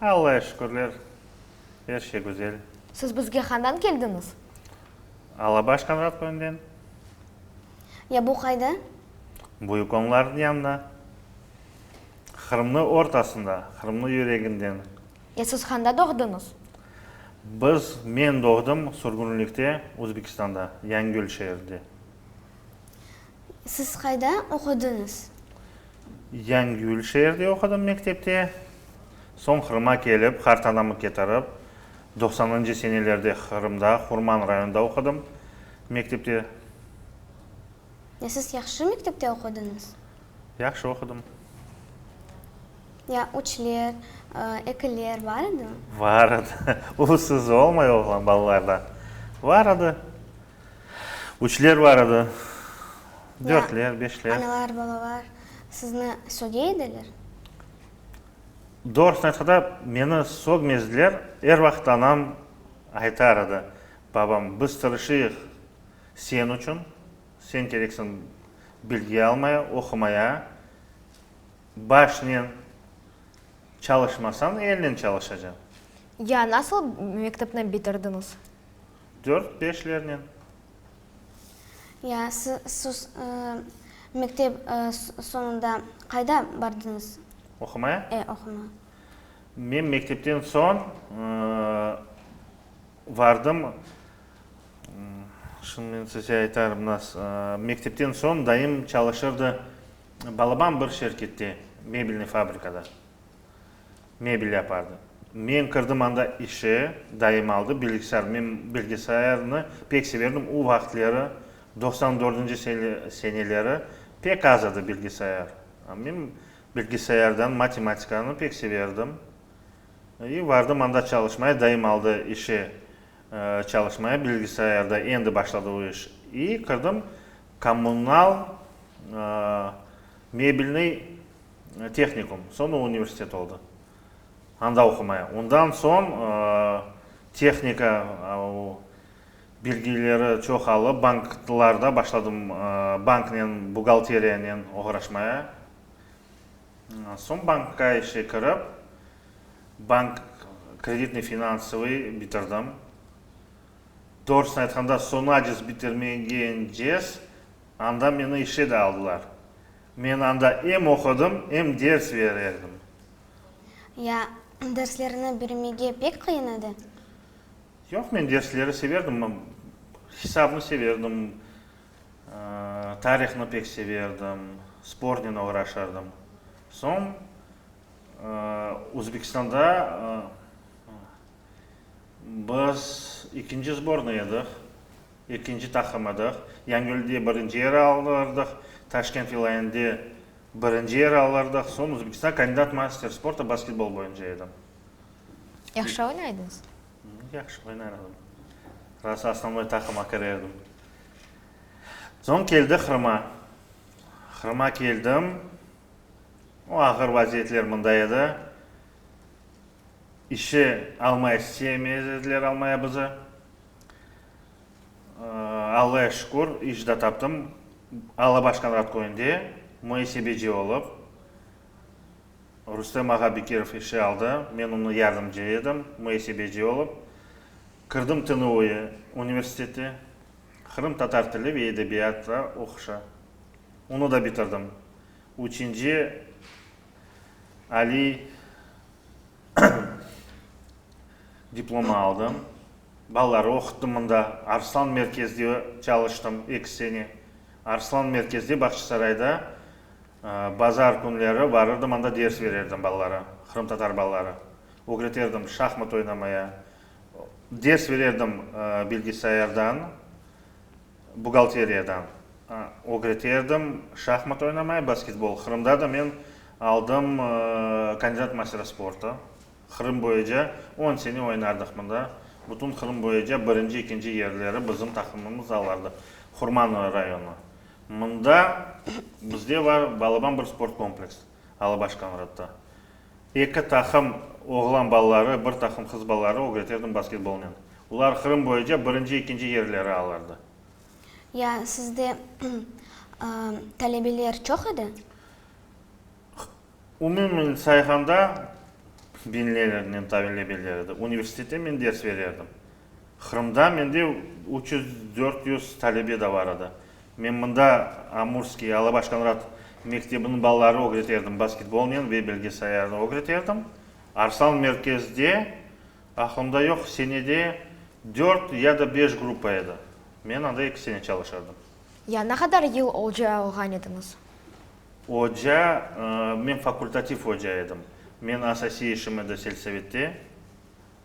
Allâğa şükürler, er şey güzel. Siz bizge handan keldiñiz? Alabaş Qanğat köyünden. Ya bu qayda? Bu yukonlarnıñ yanında. Qırımnıñ ortasında, Qırımnıñ yüreginden. Ya siz handa doğduñız? Biz, men doğdım sürgünlikte, Özbekistanda, Yañıgül şeerinde. Siz qayda oqudıñız? Yañgül şeerde oqudım mektepte. Soñ Qırım'a kelip, qartanamı ketirip, doqsanıncı senelerde Qırımda, Hurman rayonında oqudım mektepte. Ya siz yahşı mektepte oqudıñız? Yahşı oqudım. Ya üçler, ekiler bar edimi? Bar edi. Ulusız olmay oğlan balalarda bar edi. Üçler bar edi, dörtler, beşler. Analar, babalar sizni söge ediler? Doğrusını aytqanda, meni sögmezdiler. Er vaqıt anam aytar edi, Babam, biz tırışıyıq sen içün, sen kereksiñ bilgi almaya, oqumaya. Başnen çalışmasañ, elnen çalışacañ. Ya nasıl mektepni bitirdiñiz? dört-beşlernen. Ya, siz mektep soñunda qayda bardıñız? Oqumaya? E, oqumaya. Men mektepten soñ vardım, şimdi men size aytarım nas. Mektepten soñ dayım çalışırdı, balaban bir şirkette, mebelniy fabrikada. Mebel yapardı. Men kirdim anda işe, dayım aldı bilgisayar. Men bilgisayarnı pek severdim. O vaqıtları, doqsan dördünci seneleri pek az edi bilgisayar. Men bilgisayardan matematikanı pek severdim. İ, vardım anda çalışmaya, dayım aldı işe çalışmaya, bilgisayarda endi başladı o iş. İ, kirdim kommunal mebelnıy Tehnikum, soñra universitet oldı. Anda oqumaya. Ondan soñ tehnika bilgileri çoqalıp, banklarda başladım banknen, buğgalteriyanen oğraşmaya. Soñ bankqa işe kirip, bank kreditniy-finanssvıy bitirdim. Doğrusını aytqanda, soñacız bitirmegence anda meni işe de aldılar. Men anda em oqudım, em ders ver edim. Ya, derslerini birmege pek qıyın edi? Yoq, men dersleri severdim. Hisabnı severdim, tarihni pek severdim, spornen oğraşardım. Soñ Özbekistanda biz ikinci zbornıy edik. Ekinci taqım edıq. Yañgölde birinci yeri aldıq, Taşkent vilâyende birinci yeri aldıq. Soñ Özbekistan kandidat master sporta basketbol boyunca edim. Yahşı oynaydınız? Yahşı oynar edim. Rası osnovnoy taqıma kire edim. Soñ keldi Qırıma. Qırıma keldim. O ağır vaziyetler mında edi. İşe almay isteyemezdiler almaya bizi. Allaya şükür, iş de taptım. Alabaşkan radköyünde muesebeci olıp, Rustem ağa Bekirov işe aldı. Men onıñ yardımcı edim, muesebeci olıp. Kirdim TNUE universiteti, Qırım tatar tili ve edebiyatı oquşa. Onı da bitirdim. Üçünci aliy Diplomı aldım. Balaları oquttım mında. Arslan merkezde çalıştım eki sene. Arslan merkezde, Bağçasarayda bazar künleri barırdım, anda ders bererdim balalara, qırımtatar balaları. Ögreterdim şahmat oynamaya. Ders bererdim bilgisayardan. Buğalteriyadan ögreterdim, şahmat oynamay, basketbol. Qırımda da men aldım kandidat mastere sporta. Qırım boyuca on sene oynardıq mında. Bütün Qırım boyuca birinci, ikinci yerleri bizim taqımımız alardı. Hurmanlı rayonı. Mında bizde bar balaban bir sport kompleksi. Alabaş Konradda. Eki taqım oğlan balaları, bir taqım qız balaları ögreterdim basketbolnen. Olar Qırım boyunca birinci, ekinci yerleri alardı. Ya sizde talebeler çoq edi? Umumen sayğanda, biñlernen talebeler edi. Universitette men ders bererdim. Qırımda mende üç yüz, dört yüz talebe de bar edi. Men mında Amurskiy, Alabaş Konrad mektebiniñ balaları ögreterdim basketbolnen ve belge sayarnı ögreterdim. Arslan merkezde, aqlımda yoq, senede dört ya da beş gruppa edi. Men anda eki sene çalışardım. Ya ne qadar yıl oca olğan ediñiz? Oca, men fakultativ oca edim. Men asasiy işim edi selsovette.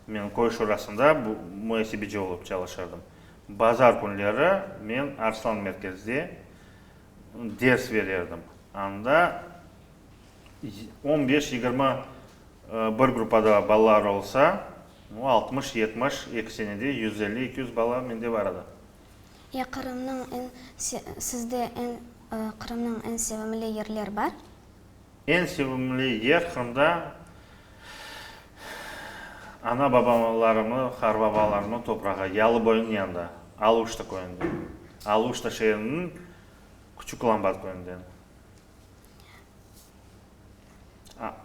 Men köy şurasında muesebeci olıp çalışırdım. Bazar künleri men Arslan merkezde ders berirdim. Anda on beş, yigirmi bir gruppada balalar olsa, altmış, yetmiş, eki senede yüz elli, eki yüz bala mende bar edi. Ya Qırımnıñ en, sizde en, Qırımnıñ en sevimli yerler bar? Eñ sevimli yer Qırımda ana-babalarımnı, qarbabalarımnı toprağı, Yalıboyunıñ yanında, Aluşta köyünden, Aluşta şeeriniñ Küçük Lambat köyünden.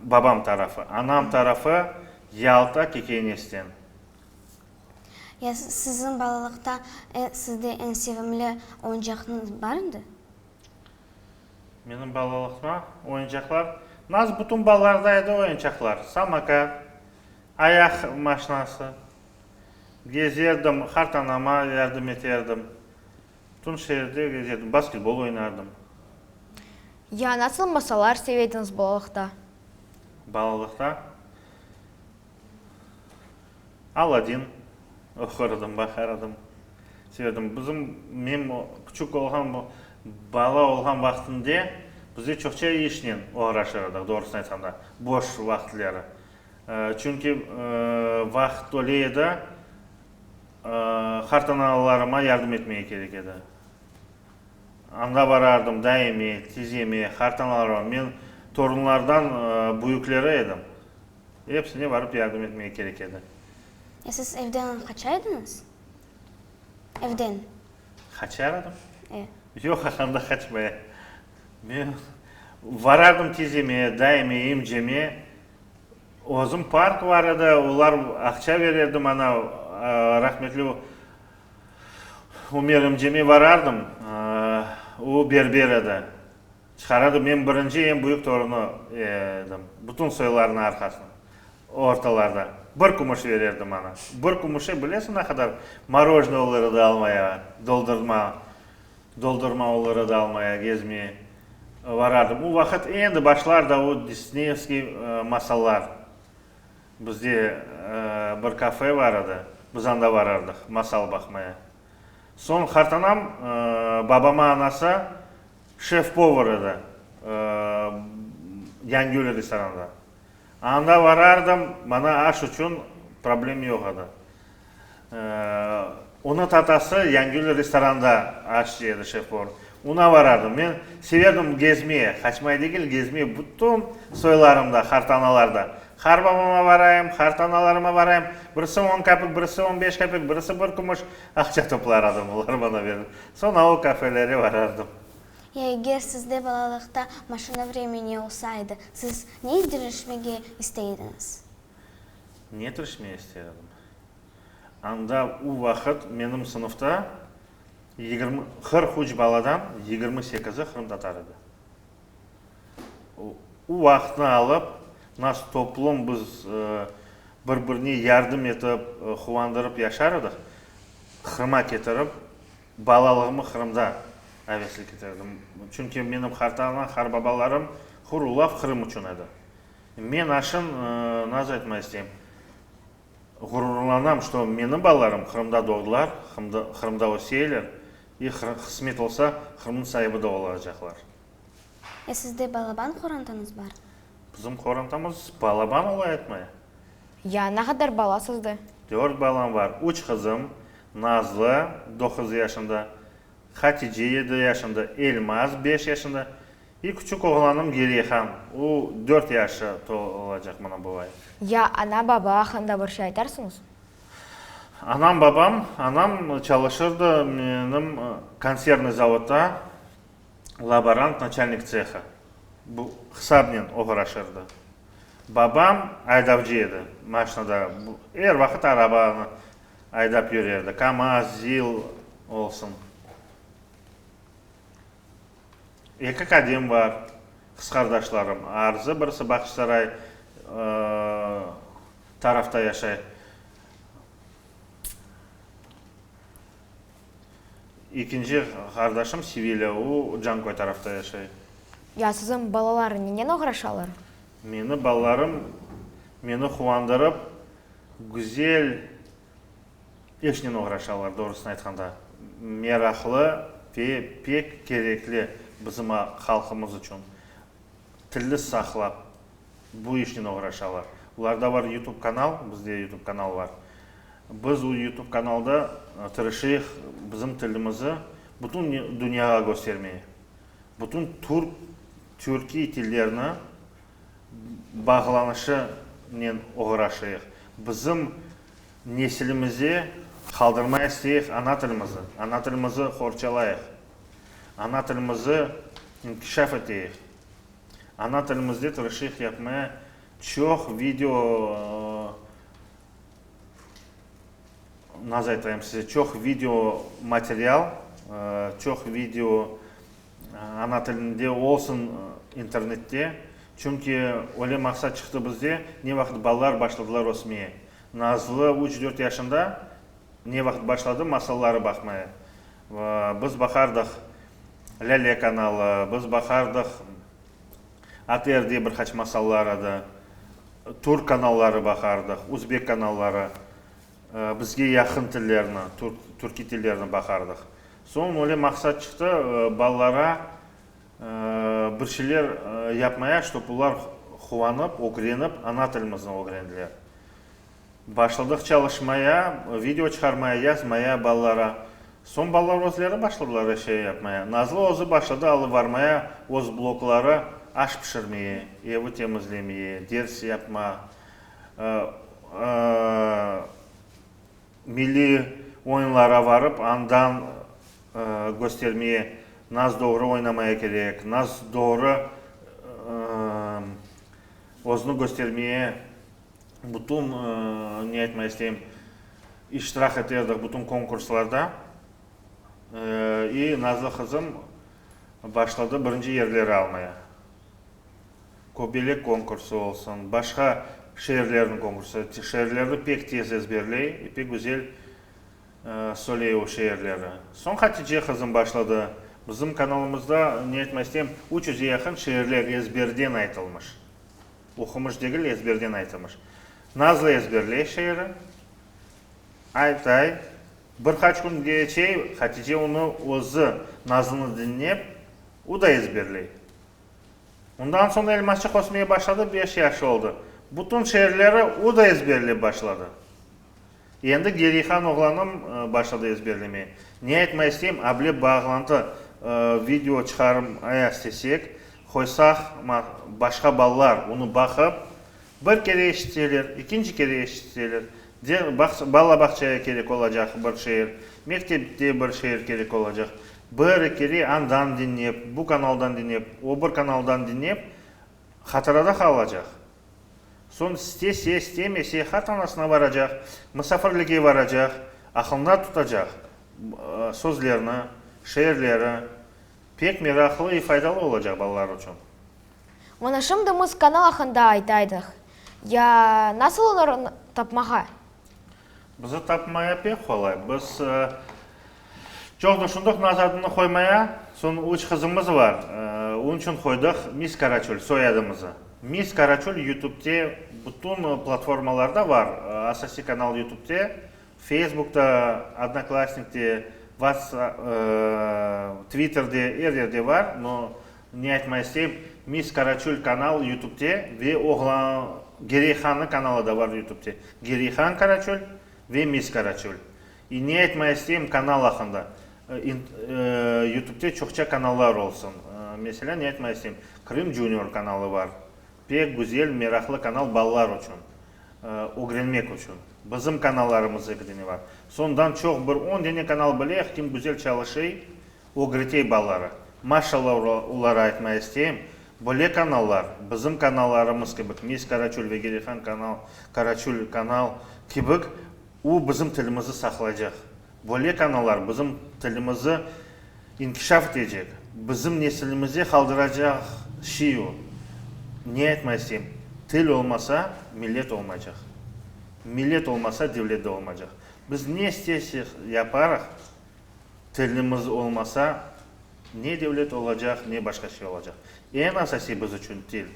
Babam tarafı. Anam tarafı Yalta, Kekeynesten. Ya siziñ balalıqta sizde eñ sevimli oyuncaqnıñ bar indi? Menim balalıqta oyuncaqlar, nasıl bütün balalarda edi oyuncaqlar, samokat, ayaq maşinası, gezerdim, qartanama yardım eterdim, bütün şeerde gezerdim, basketbol oynardım. Ya nasıl masalar sevediñiz balalıqta? Balalıqta? Aladin oqurdım, baqardım, severdim. Bizim, men küçük olğan, bala olğan vaqtımda bizde çoqça işnen oğraşır edik, doğrusını aytqanda, boş vaqıtları. Çünki vaqıt tole edi, qartanalalarıma yardım etmege kerek edi. Anda barardım, daime, tizeme, qartanalalarıma. Men torunlardan büyükleri edim. Epsine barıp yardım etmege kerek edi. E siz evden qaçaydıñız? Evden. Qaçar edim? E. Yoq, anda qaçmaya. Men varardım tizeme, dayime, emceme. Özüm park bar edi, olar aqça bererdim, ana, rahmetli Ümer emceme varardım, o berber edi. Çıqaradı. Men birinci eñ büyük torunı edim. Bütün soylarnıñ arqasına. Ortalarda. Bir kümüş verirdi maña. Bir kümüşe bilesiñ ne qadar morojnıy olur edi almaya, doldurma, doldurma olur edi almaya, gezmeye varardım. O vaqıt endi başlar da o Disneyevskiy masallar. Bizde bir kafe bar edi. Biz anda varardıq masal baqmaya. Soñ qartanam babama anası, Şef-povır edi Yangül restoranında. Anda varardım, maña aş içün problem yoq edi. Onı tatası Yangül restoranda aş jey edi şef-povır. Ona varardım. Men severdim gezmeye, qaçmay degil, gezmeye bütün soylarımda, hartanalarda. Har babama varayım, hartanalarıma varayım. Birisi on kapik, birisi on beş kapik, birisi bir kümüş aqça toplar edim, olar maña berer. Soñ avu kafeleri varardım. Ya eger sizde balalıqta maşina vremeni olsa edi, siz ne etdirişmege istey ediñiz? Ne etdirişmege istey edim? Anda u vaqıt menim sınıfta yigirmi, qırq üç baladan yigirmi sekizi qırımtatar edi. O vaqıtnı alıp, nasıl toplum biz bir-birine yardım etip, quvandırıp yaşar edik, Qırım'a ketirip, balalığımı Qırımda aveslik eterdim. Çünki menim qarta-ana, qarbabalarım hır ulaf Qırım içün edi. Men aşın, nasıl aytmaq isteyim, ğururlanam, ki, menim balalarım Qırımda doğdılar, Qırımda öseyler, E, qısmet olsa, Qırımnıñ saibi da olacaqlar. E, sizde balaban qorantanız bar? Bizim qorantamız balaban olay etmey. Ya, ne qadar bala sizde? Dört balam var, üç qızım, Nazlı, doquz yaşında, Hatice, yedi yaşında, Elmaz, beş yaşında, e, küçük oğlanım Gereyhan, o, dört yaşı tolacaq mına bu ay. Ya, ana, baba aqqında bir şey aytarsıñız? Anam, babam, anam çalışırdı menim konservnıy zavodda, laborant, naçalnik tsehı, bu hısabnen oğraşırdı. Babam aydavcı edi, maşnada, er vaqıt arabanı aydap yürerdi, kamaz, zil olsun. Eki qadim bar, qısqardaşlarım. Arzı birisi Baqçısaray tarafta yaşay. İkinci qardaşım Sevilya, o Canköy tarafta yaşay. Ya siziñ balalarıñ nenen oğraşalar? Meni balalarım meni quvandırıp, güzel İşnen oğraşalar, doğrusını aytqanda. Meraqlı ve pek kerekli bizim halqımız içün. Tilli saqlap, bu işnen oğraşalar. Ularda bar Youtube kanal, bizde Youtube kanal bar. Biz o Youtube kanalda tırışıyıq bizim tilimizi bütün dünyağa köstermeye. Bütün türk, türkiy tillerini. bağlanışınen oğraşayıq. Bizim nesilimize qaldırmay isteyik ana tilimizi, ana tilimizi qorçalayıq, ana tilimizi inkişaf eteyik, ana tilimizde tırışıyıq yapmaya çoq video nazaytayım size çoq video material, çoq video Ana tilinde olsun internette, çünki öyle maqsat çıqtı bizde, ne vaqıt balalar başladılar ösmeye. Nazlı üç, dört yaşında ne vaqıt başladı masalları baqmaya. Biz baqardıq Lâle kanalı, biz baqardıq ATR diye bir qaç masallar edi. Türk kanalları baqardıq, uzbek kanalları, bizge yaqın tillerni, türkiy tillerni baqardıq. Soñ öyle maqsat çıqtı, balalara bir şeyler yapmayaq, ştob olar quvanıp, ögrenip, ana tilimizni ögrendiler. Başladıq çalışmaya, video çıqarmaya, yazmaya balalara. Soñ balalar özleri başladılar er şey yapmaya. Nazlı özü başladı alıvarmaya öz blokları, aş pişirmeye, evi temizlemeye, ders yapma. Milliy oyunlara varıp, andan göstermeye, nas doğru oynamaya kerek, nas doğru özüni göstermeye bütün, ne aytmaq isteyim, iştirak eterdik bütün konkurslarda. İ nazlı qızım başladı birinci yerleri almaya. Köbelek konkursı olsun, başqa şiirlerniñ konkursı, şiirlerni pek tez ezberley, pek güzel söyley o şiirleri. Soñ Hatice qızım başladı. Bizim kanalımızda, ne etmesem, üç yüzge yaqın şiirler ezberden aytılmış. Oqumış degil, ezberden aytılmış. Nazlı ezberley şiiri, aytay, bir qaç kün keçey, Hatice onı özü, Nazlını diñlep, o da ezberley. Ondan soñ elmasçıq ösmeye başladı, beş yaşı oldı. Bütün şeerleri o da ezberlep başladı. Endi Gerihan oğlanım başladı ezberlemeye. Ne aytmay isteyim, able bağlantı video çıqarım aya istesek, qoysaq, başqa balalar onı baqıp, bir kere eşitseler, ikinci kere eşitseler, bala bağçaya kerek olacaq bir şeer, mektepte bir şeer kerek olacaq. Bir, ikili andan diñlep, bu kanaldan diñlep, o bir kanaldan diñlep, hatırada qalacaq. Soñ istese, istemese, hatanasına baracaq, musafirlige baracaq, aqılında tutacaq sözlerni, şeerleri. Pek meraqlı i faydalı olacaq balalar içün. Mına şimdi mız kanal aqında aytaydıq. Ya nasıl onı tapmağa? Bizi tapmaya pek qolay. Biz çoq düşündik Naz adını qoymaya. Soñ üç qızımız bar, onıñ içün qoydıq Mis Karaçöl, soyadımızı. Mis Karaçöl Yutübde bütün platformalarda bar, asasiy kanal Yutübde, Feysbukta, Odnoklassnikte, Vatsa, Tvitterde, er yerde bar. No, Ne aytma isteyim, Miss Karaçöl kanal Yutubde ve oğlan Gereyhannıñ kanalı da bar Yutubde. Gereyhan Karaçöl ve Miss Karaçöl. İ, ne aytma isteyim kanal aqqında. Yutubde çoqça kanallar olsun. Meselâ, ne aytma isteyim, Krım Junior kanalı bar. Pek güzel, meraqlı kanal balalar uçün, ögrenmek uçün. Bizim kanallarımız eki dene bar. Sondan çoq bir on dene kanal bilek, kim güzel çalışıy, Ögretey balaları, maşalla oları aytmay isteyim, böyle kanallar, bizim kanallarımız kibik, Mes Karaçöl ve Gerihan kanal, Karaçöl kanal kibik, o bizim tilimizi saqlaycaq. Böyle kanallar bizim tilimizi inkişaf etecek, bizim nesilimizge qaldıracaq şey o. Ne aytmay isteyim, til olmasa, millet olmaycaq. Millet olmasa, devlet de olmaycaq. Biz ne istesek yaparıq. Tilimiz olmasa, ne devlet olacaq, ne başqa şey olacaq. Eñ asası biz içün til.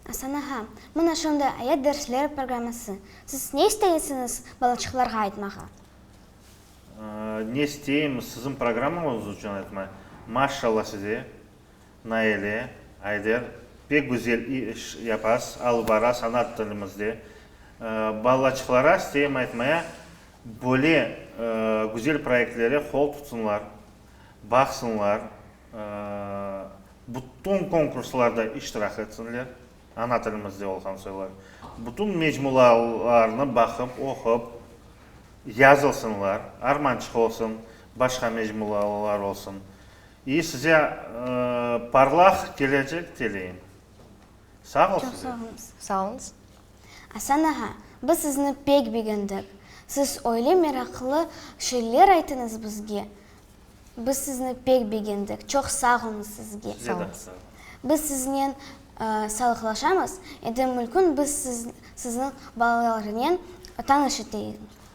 Asan ağa, mına şunday ayat dersleri programması. Siz ne isteysiñiz balaçıqlarğa aytmağa? Ne isteyim, siziñ programmañız içün aytmay. Maşşalla size. Naile, Ayder, pek güzel iş yapasız, alı bara sanat tilimizde. Balaçıqlara isteyim aytmaya, böyle güzel proyektlere qol tutsınlar, baqsınlar, bütün konkurslarda iştirak etsinler, ana tilimizde olğan soylar, bütün mecmulalarnı baqıp, oqup, yazılsınlar, Armançıq olsun, başqa mecmulalar olsun, İ size parlaq kelecek tileyim. Sağ ol size. Çoq sağ olunız. Sağ olunız. Asan ağa, biz sizni pek begendik. Siz öyle meraqlı şeyler aytıñız bizge. Biz sizni pek begendik. Çoq sağ olunız sizge. Size de sağ olunız. Biz siznen salıqlaşamız. Endi mülkün biz sizniñ balalarınen tanış eteyim.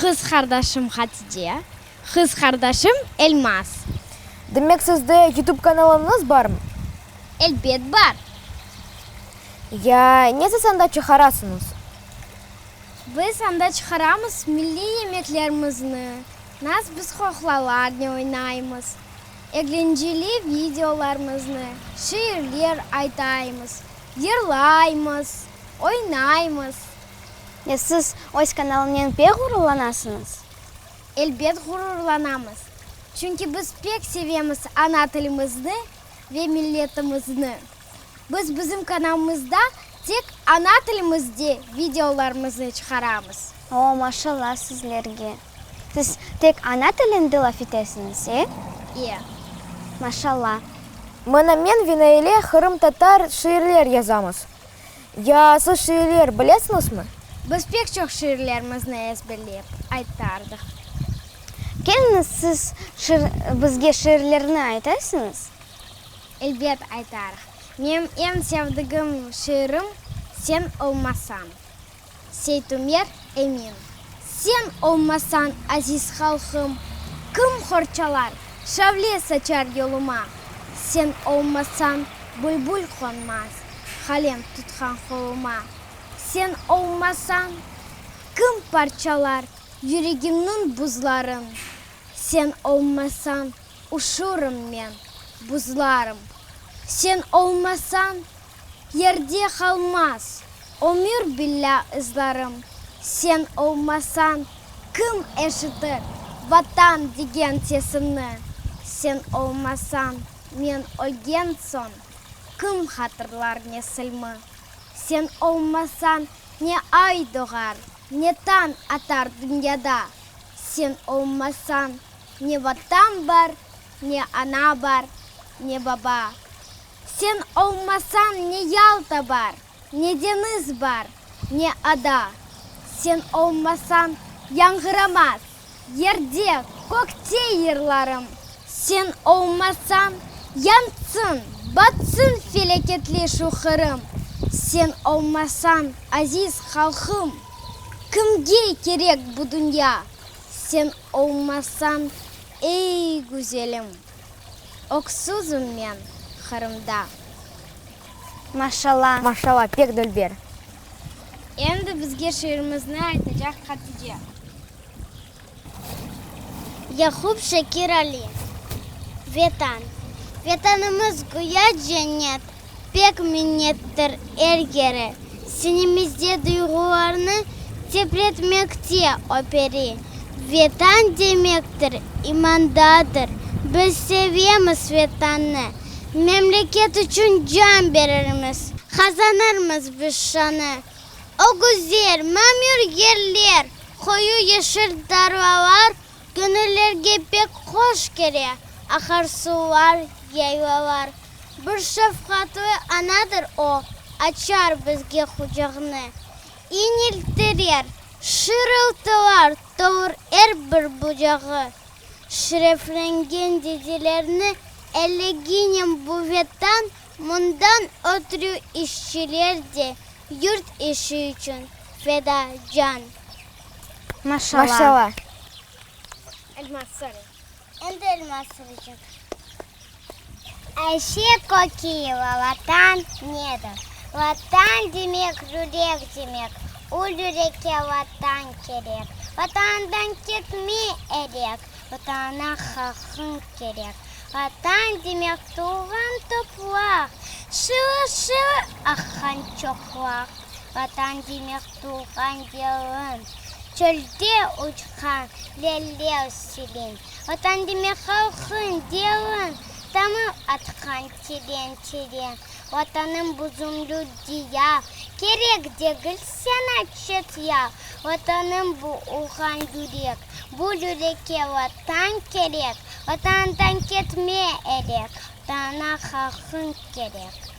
Qız qardaşım Hatide. Qız qardaşım Elmaz. Demek sizde YouTube kanalıñız barm? Elbet bar. Ya, nesiz anda çıqarasıñız? Biz anda çıqaramız milliy yemeklerimizni, nas biz qoqlalar ne oynaymız, eglenceli videolarmıznı, şiirler aytaymız, yırlaymız, oynaymız. E, siz öz kanalınen pek ğururlanasıñız? Elbet ğururlanamız, çünki biz pek sevemiz ana tilimizni ve milletimizni. Biz bizim kanalımızda tek ana tilimizde videolarımıznı çıqaramız. O, maşalla sizlerge! Siz tek ana tilinde laf etesiñiz, e? E. Maşalla! Mına men ve Naile qırımtatar şiirler yazamız. Ya siz şiirler bilesiñizmi? Biz pek çoq şiirlerimizni ezberlep aytardıq. Keliñiz, siz bizge şiirlerni aytasiñız? Elbet aytarıq. Menim eñ sevdigim şiirim, Sen olmasañ. Seytumer Emin, sen olmasañ, aziz halqım, Kim qorçalar, şavle saçar yoluma? Sen olmasañ, bülbül qonmaz, Qalem tutqan qoluma. Sen olmasañ, kim parçalar Yüregimniñ buzların? Sen olmasañ, uşurım men, buzlarım. Sen olmasañ, Yerde qalmaz ömür billâ ızlarım, Sen olmasañ kim eşitir Vatan degen sesimni? Sen olmasañ men ölgen soñ kim hatırlar nesilmi? Sen olmasañ ne ay doğar, ne tañ atar dünyada, Sen olmasañ ne Vatan bar, ne ana bar, ne baba. Sen olmasañ ne Yalta bar, ne deñiz bar, ne ada. Sen olmasañ yañğıramaz yerde, kökte yırlarım. Sen olmasañ yansın, batsın feleketli şu Qırım. Sen olmasañ, aziz halqım, kimge kerek bu dünya? Sen olmasañ, ey güzelim. Öksüzim men Qırımda. Maşalla. Maşalla, pek dülber. Endi bizge şiirimizni aytacaq Hatice. Yaqup Şakir Ali. Vetan. Vetanımız güya cennet. Pek minnettir er kere. Sinimizde duyğularnı titretmekte operi. Vetan demektir, imandadır. Biz sevemiz Vetannı. Memleket içün can berirmiz. Qazanırmız biz şanı. Ögüzler, mamür yerler, qoyu yeşil tarlalar, Köñüllerge pek hoş kele aharsular, yaylalar. Bir şefqatli anadır o, açar bizge qucağını. İñiltirer, şırıltılar tolur er bir bucağı. Şreflengen dedelerni eleginem buvetan, mundan ötrü işçiler de yurt işi içün feda can. Maşala. Endi elma soraycaq. Ayşe Kökiyeva, Vatan nedir? Vatan demek, yürek demek. O yürekke Vatan kerek. Vatandan ketme elek. Vatana haqıñ kerek. Vatan demek, tuvğan topraq. Şıvır-şıvır aqqan çoqlaq. Vatan demek. tuvğan yılın. Çölde uçqan lelev silin. Vatan demek halqıñ delin. Tamır atqan teren-teren. Vatanım buzumlu diyav. Kerek degil saña çet yav. Vatanım bu, urğan yürek. Bu yürekke Vatan kerek. Vatandan ketme elek. Vatanına halqıñ kerek.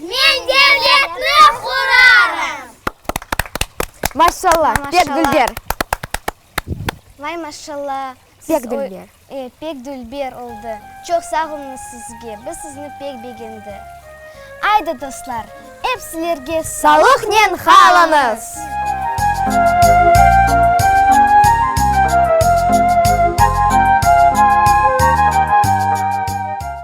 Men devletni qurarım! Maşşalla, pek dülber! Vay maşşalla, siz pek dülber oldı. Çoq sağ oluñız sizge, biz sizni pek begendi. Aydı dostlar, ep sizlerge salıqnen qalıñız!